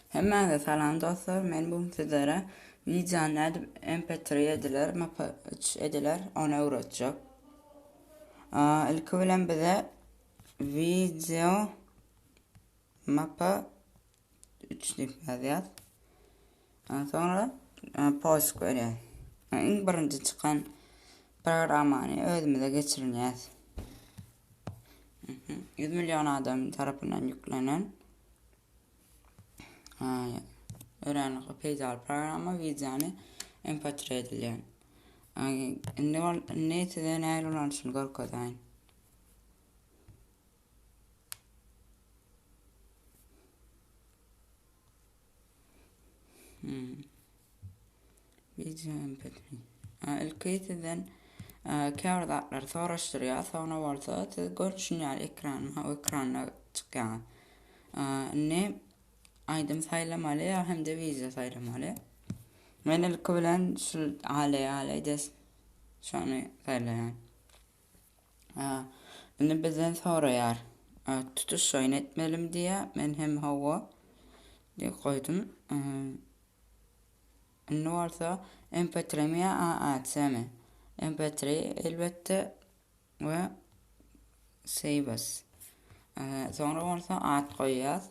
Hemmäňize salam dostlar. Men bu sizlere wideony nädip MP3 ediler, MP3 ediler, ony öwretjek. Ilki bilen bize video mp 3 diýip ýazýas. Ondan soňra e, posk berýär. Iň birinji çykan programmany özümize geçirinýäs. 100 million adam tarapyndan ýüklenen öwrenlikli peýdaly programma wideony MP3 edilýär. Indi ol indi size nähili ulanyşyny görkezäýin. Ilki sizden käbir zatlary soraşdyrýar, soňra bolsa siz görşüň ýaly ekran, ha ekranda çykýaňyz. Indi aýdym saýlamaly ýa hem-de wideo saýlamaly. Men ilki bilen şu ale ale des şony saýlaýan. Indi bizden soraýar. Tutuş şoýny etmelimi diýýär. Men hem hawa diýip goýdum. Indi bolsa MP3 mi ýa AAC mi? MP3 elbetde we Saves. Soňra bolsa at goýýas.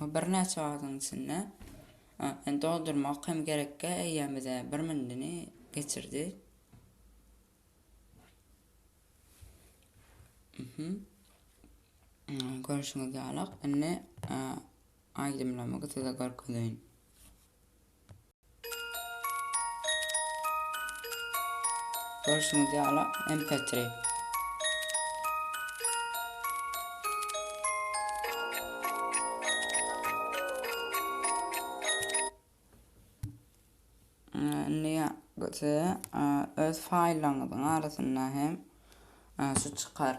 Birnäçe wagtyň içinde doldurmak hem gerekkä eýýäm bize bir mündini geçirdi. Görüşiňiz ýalak indi aýdymlamy size görkezeýin. Görşüňiz ýaly MP3. öz faýllaryňyzyň arasynda hem şu çykar.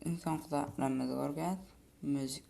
Iň soňky zatlarymyzy görgäs, müzik.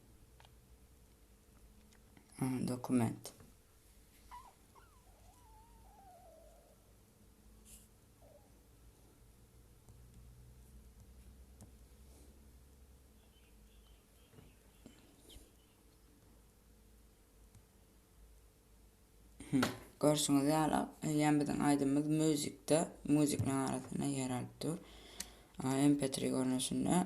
Dokument. Görüşüňiz ýaly, eýýäm biziň aýdymymyz muzikde, muzikanyň arasynda ýer alyp dur. MP3 görnüşinde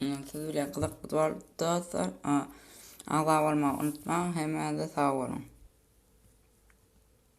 Siz bilen gyzykly bolupdy dostlar. Agza bolmagy unutmaň. Hemmäňize sag boluň.